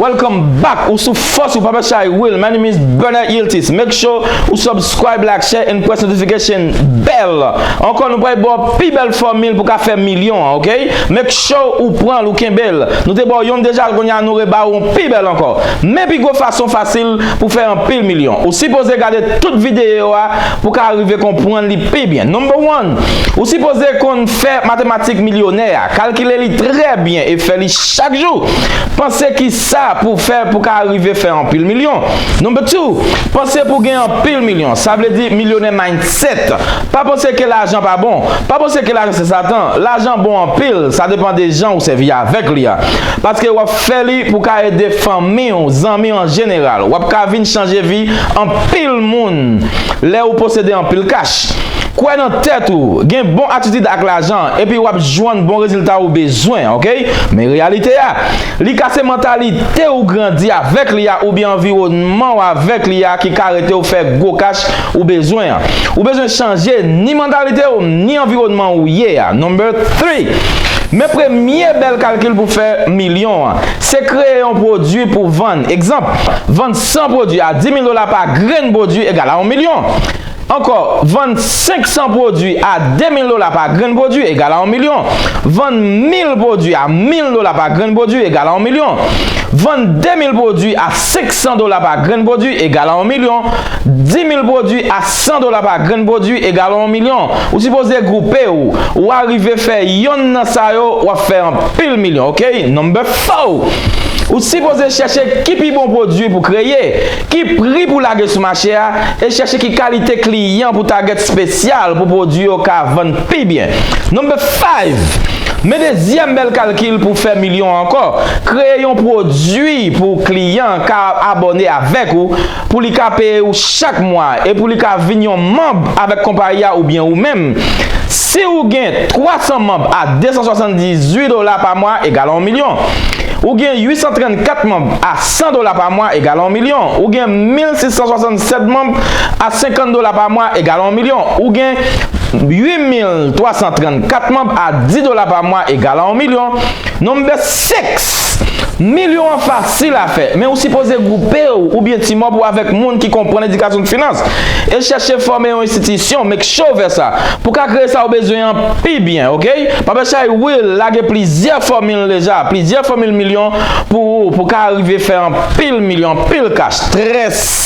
Welcome back ou sou fòs ou papa chay will my name is Bernard Yiltis make sure ou subscribe like share and press notification bell ankò nou pray bò pi bèl fòmil pou ka fè milyon an ok make sure ou pran l ou kenbe l nou te bò yon deja konya nou re ba ou pi bèl ankò men pi gwo fason fasil pou fè anpil milyon. Ou sipoze gade tout videyo yo a pou ka rive konprann li pi byen. Number one, Ou sipoze konn fè matematik milyonè a. Kalkile li trè byen e fè li chak jou. Panse kisa pou fè pou ka rive fè anpil milyon. Number two, Panse pou gen anpil milyon. Sa vle di milyonè mindset. Pa panse ke lajan pa bon. Pa panse ke lajan se satan. Lajan bon anpil, sa depan de jan ou sèvi avèk li a. Paske wap fè li pou ka ede fanmi ou, zanmi ou an jeneral. Wap ka vin chanje vi anpil moun lè ou posede anpil kach. Kwè nan tèt ou, gen bon atitid ak lajan, epi wap jwann bon rezilta ou bezwen ok. Men reyalite a, li ka se mantalite ou grandi avèk li a oubyen anviwònman ou avèk li a ki ka rete ou fè gwo kach Ou bezwen an. Ou bezwen chanje ni mantalite w ni anviwònman ou ye a. Number three, Men premye bèl kalkil pou fè milyon an. Se kreye yon pwodui pou vann. Egzanp, vann 100 pwodui a 10 mil dola pa grenn pwodui egal a yon milyon. Ankò, vann 500 pwodui a 2 mil dola pa grenn pwodui egal a yon milyon. Vann mil pwodui a mil dola pa grenn pwodui egal a yon milyon. Vann 2 mil pwodui a 500 dola pa grenn pwodui egal a yon milyon. 10 mil pwodwi a 100 dola pa grenn pwodwi egal yon milyon. Ou sipoze gwoupe ou, ou arive fè yonn nan sa yo wap fè anpil milyon ok. Number four, Ou sipoze chèche ki pi bon pwodwi pou kreye, ki pri pou lage sou mache a, e chèche ki kalite kliyan pou target spesyal pou pwodwi yo ka vann pi byen. Number five, Men dezyèm bèl kalkil pou fè milyon ankò, kreye yon pwodwi pou kliyan ka abòne avèk ou, pou li ka peye ou chak mwa e pou li ka vin yon manb avèk konpayi a oubyen ou menm. Si ou gen 300 manb a 278 dola pa mwa egal a yon milyon. Ou gen 834 manb a 100 dola pa mwa egal a yon milyon. Ou gen 1667 manb a 50 dola pa mwa egal a yon milyon. Ou gen 8334 manb a 10 dola pa mwa egal a yon milyon. Nonm bèt. Seks! Milyon an fasil a fè, men ou sipoze gwoupe w oubyen ti mòb ou avèk moun ki konprann edikasyon finans, e chèche fòme yon enstitisyon, make sure w fè sa, pou ka kreye sa ou bezwen an pi byen ok. Pape Chay Will lage plizyè fòmil deja, plizyè fòmil milyon pou ou pou ka rive fè anpil milyon, anpil kach. Très.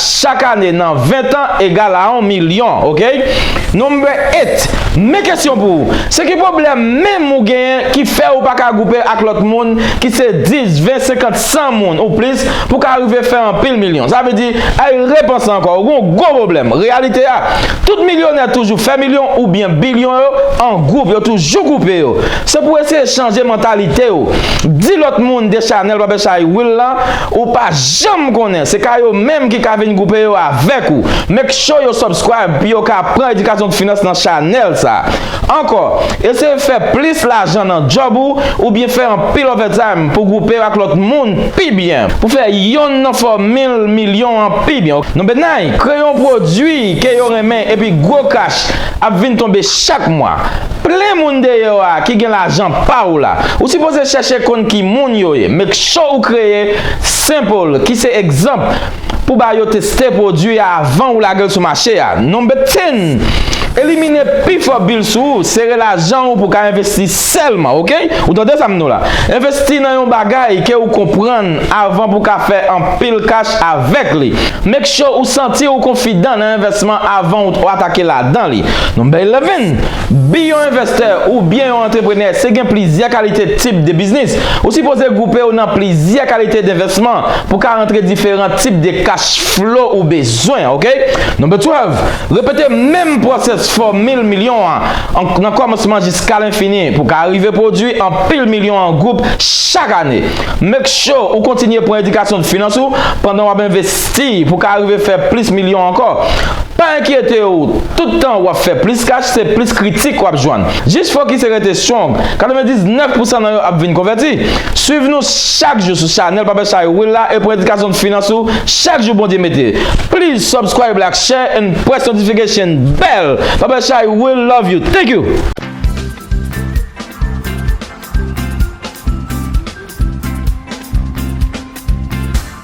Chak ane nan 20 tan egal a on milyon ok number 8 men kesyon pou ou se ki pwoblèm menm ou genyen ki fè ou paka gwoupe ak lòt moun ki se 10 20 50 100 moun ou plis pou ka rive fè anpil milyon sa vle di ay repanse ankò ou gen yon gwo pwoblèm reyalite a tout milyonè toujou fè milyon ou byen bilyon yo an gwoup yo toujou gwoupe yo se pou eseye chanje mantalite ou di lòt moun de chanèl papechay wil lan Ou pa janm konnen, se ka yo menm ki ka vin groupe yo avèk ou. Make sure yo subscribe pou yo ka pran edikasyon finans nan chanèl sa. Ankò, eseye fè plis lajan nan djòb ou oubyen fè anpil overtime pou groupe yo ak lòt moun pi byen, pou fè yonn nan fòmil milyon an pi byen. Non Bednay, kreye yon pwodwi ke yo renmen epi gwo cash ap vin tonbe chak mwa. Plen moun deyò a ki gen lajan pa ou la. Ou sipoze chèche konn ki moun yo ye. Make sure ou kreye sample ki se egzanp pou ba yo teste pwodui a avan ou lage l sou mache a. Number ten, Elimine pi fò bil sou ou. Sere lajan ou pou ka envesti sèlman ok. Ou tande sa m di w la. Envesti nan yon bagay ke ou konprann avan pou ka fè anpil kach avèk li. Make sure ou santi ou konfidan nan envèsman avan ou atake ladan li. Number eleven, Bi yon envestè ou byen yon antreprenè se gen plizyè kalite tip de biznis. Ou sipoze gwoupe w nan plizyè kalite denvesman pou ka rantre diferan tip de cash flow ou bezwen ok. Number 12, Repete menm pwosès fòmil milyon an nan kòmansman jiska lenfini pou ka rive pwodwi anpil milyon an gwoup chak ane. Make sure ou kontinye pran edikasyon finans ou pandan w ap envesti. Steeve pou ka rive fè plis milyon ankò. Pa enkyete w, tout tan wap fè plis kach se plis kritik wap jwenn. Jis fokise rete strong, 99 pousan nan yo ap vin konvèti. Swiv nou chak jou sou chanèl Papa Shay Will la e pran edikasyon finans ou chak jou Bondye mete. Please subscribe like share and press notification bell Papa Shay Will love you thank you.